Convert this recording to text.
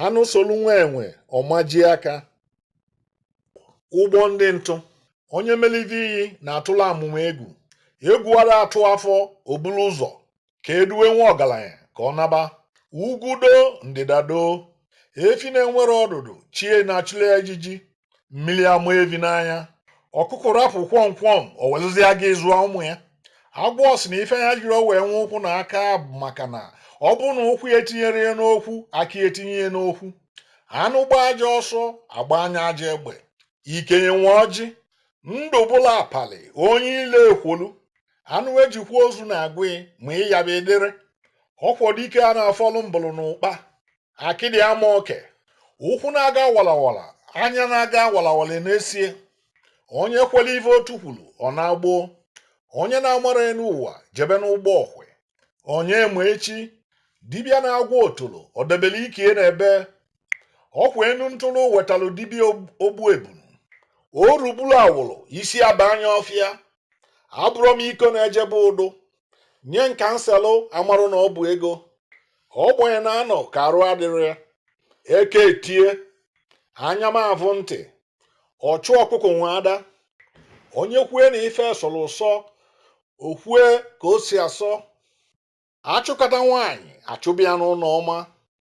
anụ solu nwa enwe ọ majie aka ụgbọ ndị ntụ onye melite iyi na-atụla amụma egwu egwu ara atụ afọ o bulu ụzọ ka e duwe nwa ọgaranya ka ọ naba ugwu doo ndịda doo efi na-enwerọ ọdụdụ chi ya na-achụla ya ijiji mmiri ama evi n'anya ọkụkọ rapụ kwọm kwọm o weluzie gịnị zụọ ụmụ ya agwọ sị na ife ya jirọ wee nwee ụkwụ na aka bụ maka na ọ bụrụ na ụkwụ ya etinyerọ ya n'okwu aka ya etinye ya n'okwu anụ gbaa ajọ ọsọ a gbanye ya ajọ egbe ikenye nwe ọjị ndụ bụla apali onye ile ekwolu anụ e ji kwa ozu na-agwụ ya ma ịyaba edere ọkwọ dike a na-afọlụ mbụlụ na ụkpa akịdị ama oke ụkwụ na-aga walawala anya na-aga walawala n'esie onye kwere ife otu kwuru ọ naa gboo onye na-amarọ enu ụwa jebe n'ụgbọ ọkwe onye ma echi dibịa na-agwọ otolo o debere ike ya n'ebee ọkwa enu ntụrụ wetalụ dibịa ogbu ebunu o rugburu awụrụ isi aba anya ọfịa abụrọ m iko na-eje be udu nye nkanselụ a marụ na ọ bụ ego ọ gbanye na anọ ka arụ adịrị ya eke etie anya m avụ ntị ọchụ ọkụkọ nwe ada onye kwue na ife sọrọ ụsọ o kwue ka o si asọ a chụkata nwaanyị a chụba ya n'ụnọ ọma